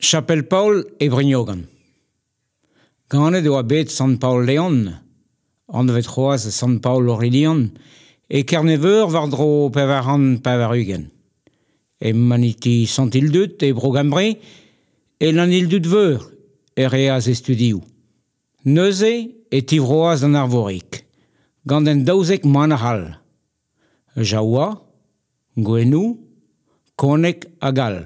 Chapel-Paol e Brignogan. Ganet e oa bet Sant-Paol-Leon, anvet c'hoazh Sant-Paol-Aurelian, e Kerne-Veur war-dro pevar c'hant pevar-ugent. E maniti Sant-Ildud e Bro-Gymru, e Lannildud-Veur, e reas e studioù. Neuze e tivroas d'an Arvorig, gant un daouzek manac'h all. jaoua, gouennoù, koneg hag all.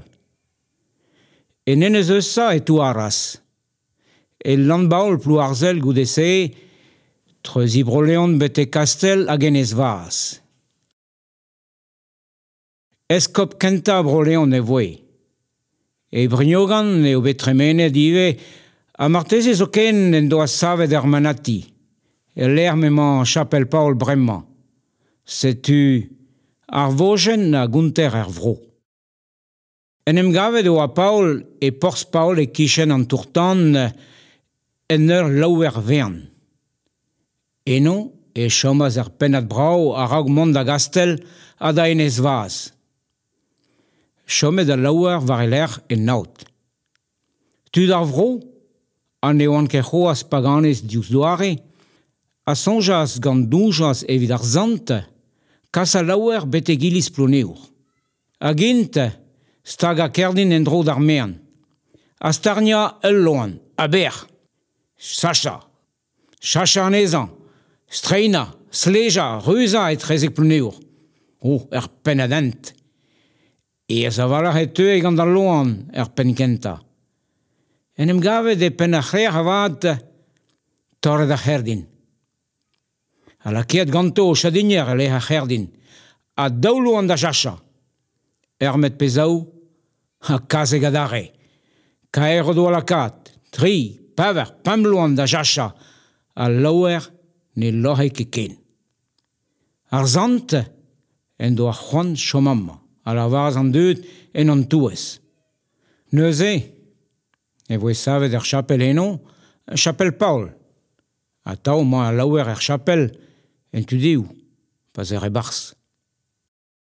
En enez Eusa e touaras. El Landbaol Plouarzhel goude-se, treuziñ Bro-Leon betek Kastell hag Enez Vaz. Eskob kentañ Bro-Leon e voe. E Brignogan eo bet tremenet ivez ha marteze zoken en doa savet ar manati, el lec'h m'emañ chapel-paol bremañ. Setu ar vojenn a gonter er vro. En em gavet e oa Paol e porzh Paol e-kichen an tour-tan en ur laouer-vean. Eno e chomas ur pennad brav a-raok mont da gastell ha da enez vazh. Chomet al laouer war e lerc'h en aod. Tud ar vro, ha ne oant ket c'hoazh paganez diouzh doare, a soñjas gant doujañs evit ar sant kas al laouer betek iliz Plouneour. Hag int stagañ kerdin en-dro d'ar maen, ha starniañ ul loen aber, sachañ, sachañ anezhañ, streinañ, slejañ, reuzañ etrezek Plouneour, oh er pennad hent. Aes a-walc'h e teue gant al loen er penn-kentañ. En em gavet e penn ar c'hrec'h avat, torret ar c'herdin. ha lakaet ganto o chadinier e-lec'h ar c'herdin, a daoloan da cheñchañ. Ermet pe zaou, ha kasek adarre. Kaer o doa lakaat, tri, pevar, pemp loen da cheñchañ, ha laoer ne loc'he ket ken. Ar sant en doa c'hoant chom amañ, a lavaras an dud en hon touez. Neuze e voe savet ur chapel eno, chapel Paol. Atav emañ al laouer er chapel, en tu dehoù, pa 'z ec'h e-barzh.